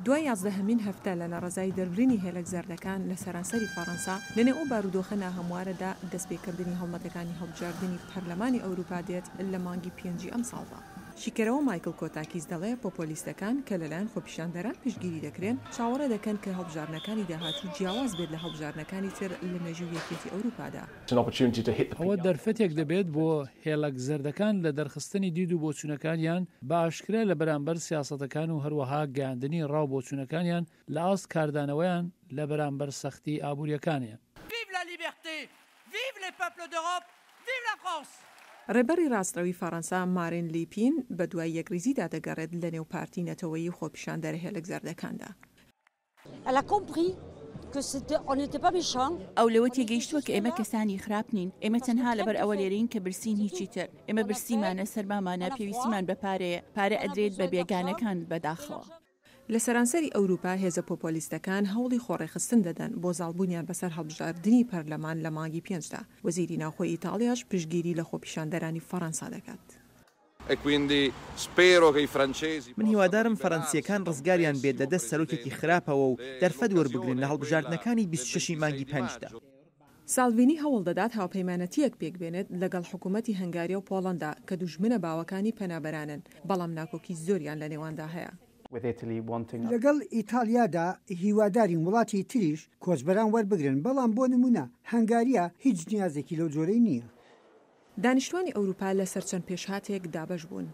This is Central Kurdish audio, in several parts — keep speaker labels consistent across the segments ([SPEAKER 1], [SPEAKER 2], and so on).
[SPEAKER 1] دوای یازدەهەمین هەفتە لە ناڕەزایی دەربرینی هێلەک زەردەکان لە سەرانسەری فەڕەنسا، لەنێو ئەو بارودۆخە ناهەموارەدا دەستپێکردنی هەڵمەتەکانی هەڵبژاردنی پەرلەمانی ئەوروپا دێت لە مانگی پێنجی ئەمساڵدا. شیکەرەوە مایکڵ کۆتاکیس دەڵێ پۆپۆلیستەکان کە لەلایەن خۆپیشاندەران پشتگیری دەکرێن، چاوەڕێ دەکەن کە هەڵبژاردنەکانی داهاتوو جیاواز بێت لە هەڵبژاردنەکانی تر لە مێژووی یەکێتی ئەوروپادا. ئەوە
[SPEAKER 2] دەرفەتێک دەبێت بۆ هێڵەک زەردەکان لە دەرخستنی دید و بۆچوونەکانیان بە ئاشکرا لە بەرامبەر سیاسەتەکان و هەروەها گەیاندنی ڕا و بۆچوونەکانیان لە ئاست کاردانەوەیان لە بەرامبەر سەختی ئابوورییەکانیان.
[SPEAKER 1] ڕێبەڕی ڕاستڕەوی فەڕەنسا مارین لیپین بەدوای یەکڕیزیدا دەگەڕێت لەنێو پارتی نەتەوەیی و خۆپیشاندەرە هێلەک زەردەکاندا.
[SPEAKER 3] ئەو لەوە تێگەیشتووە کە ئێمە کەسانی خراپ نین، ئێمە تەنها لەبەر ئەوە لێرەین کە برسین هیچی تر، ئێمە برسیمانە، سەرمامانە، پێویستیمان بە پارەیە، پارە ئەدرێت بە بێگانەکان بەداخەوە. لە
[SPEAKER 1] سەرانسەری ئەوروپا هێزە پۆپۆلیستەکان هەوڵی خۆڕێکخستن دەدەن بۆ زاڵبوونیان بەسەر هەڵبژاردنی پەرلەمان لە مانگی پێنجدا، وەزیری ناوخۆی ئیتاڵیاش پشتگیری لە خۆپیشاندەرانی فەڕەنسا دەکات.
[SPEAKER 4] من هیوادارم فەرەنسییەکان ڕزگاریان بێت لە دەست سەرۆکێکی خراپەوە و دەرفەت وەربگرن لە هەڵبژاردنەکانی بیست و شەش ی مانگی پێنج دا. سالڤینی
[SPEAKER 1] هەوڵ دەدات هاوپەیمانەتییەک پێکبێنێت لەگەڵ حکوومەتی هەنگاریا و پۆڵەندا کە دوژمنە باوەکانی پەنابەرانن، بەڵام ناکۆکی زۆریان لەنێواندا هەیە.
[SPEAKER 5] لەگەڵ ئیتاڵیادا هیوادارین وڵاتی تریش کۆچبەران وەربگرن، بەڵام بۆ نموونە هەنگاریا هیچ نیازێکی لەو جۆرەی نییە. دانیشتوانی
[SPEAKER 1] ئەوروپا لە سەر چەند پێشهاتێک دابەش بوون.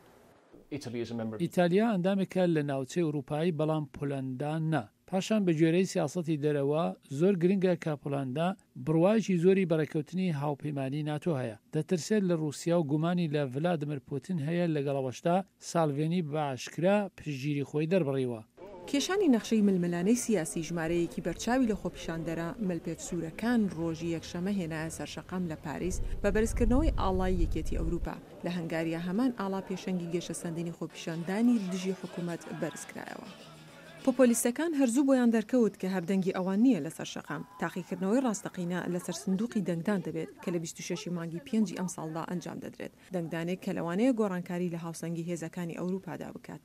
[SPEAKER 2] ئیتالیا ئەندامێکە لە ناوچەی ئوروپایی بەڵام پۆلەندا نا. پاشان بە گوێرەی سیاسەتی دەرەوە زۆر گرنگە کە پۆلەندا بڕوایەکی زۆری بە ڕێککەوتنی هاوپەیمانیی ناتۆ هەیە. دەترسێت لە ڕووسیا و گومانی لە ڤلادمر پوتین هەیە لەگەڵ ئەوەشدا، سالڤینی بە ئاشکرا پشتگیری خۆی دەربڕیوە. کێشانی نەخشەی
[SPEAKER 1] ململانێی سیاسی ژمارەیەکی بەرچاوی لە خۆپیشاندەرە ملپێچ سوورەکان ڕۆژی یەکشەمە هێنایە سەر شەقام لە پاریس بە بەرزکردنەوەی ئاڵای یەکێتی ئەوروپا. لە هەنگاریا هەمان ئاڵا پێشەنگی گەشەسەندنی خۆپیشاندانی دژی حکومەت بەرزکرایەوە. پۆپۆلیستەکان هەر زوو بۆیان دەرکەوت کە هەر دەنگی ئەوان نییە لەسەر شەقام، تاقیکردنەوەی ڕاستەقینە لەسەر سندوقی دەنگدان دەبێت کە لە بیست و شەش ی مانگی پێنجی ئەمساڵدا ئەنجام دەدرێت. دەنگدانێک کە لەوانەیە گۆڕانکاری لە هاوسەنگی هێزەکانی ئەوروپادا بکات.